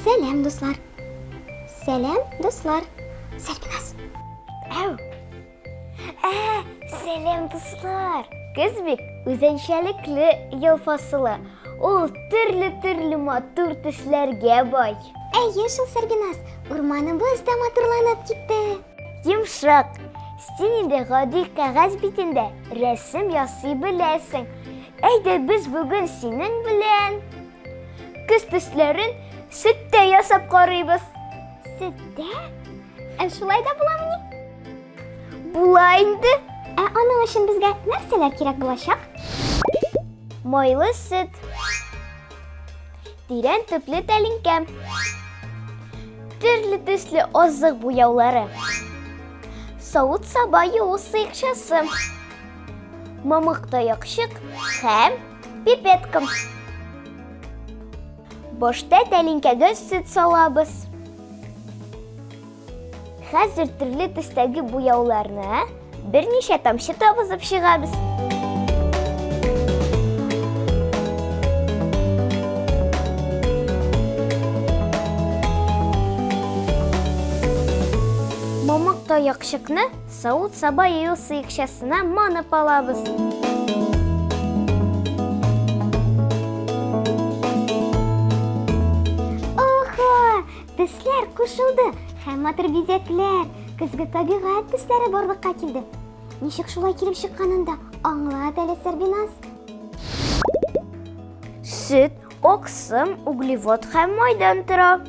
Сәләм, дуслар. Сәләм, дуслар. Сәлбиназ. Әу. Ә, сәләм, дуслар. Көз бит үзенчәлекле ел фасылы. Ул төрле-төрле матур төсләргә бай. Әйе шул, Сәрбиназ, урманыбыз да матурланып китте. Йомшак, син инде гади кәгазь битендә рәсем ясый беләсең. Әйдә без бүген синең белән көз төсләрен сөттә ясап карыйбыз. Сөттә? Ә шулай да буламыни? Була инде. Ә аның өчен безгә нәрсәләр кирәк булачак? Майлы сөт. Тирән төпле тәлинкә. Төрле төсле азык буяулары. Савыт саба юу сыекчасы. Мамык таякчык һәм пипетка. Башта тәлинкәгә сөт салабыз. Хәзер төрле төстәге буяуларны берничә тамчы табызып чыгабыз. Мамык таякчыкны савыт-саба ел сыекчасына манып алабыз. Төсләр кушылды һәм матур бизәкләр, көзге табигать төсләре барлыкка килде. Ничек шулай килеп чыкканын да аңлат әле, Сәрбиназ. Сөт, оксым, углевод һәм майдан тора.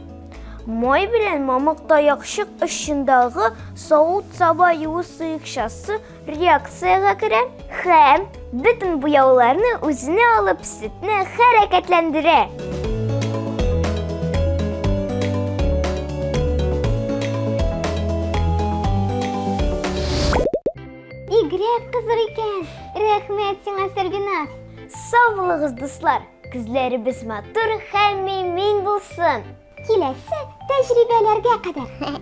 Май белән мамык таякчык очындагы савыт-саба юу сыекчасы реакциягә керә һәм бөтен буяуларны үзенә алып сөтне хәрәкәтләндерә. Игрәк кызык икән. Рәхмәт сиңа, Сәрбиназ. Сау булыгыз, дуслар. Күзләребез матур һәм мин булсын. Киләсе тәҗрибәләргә кадәр.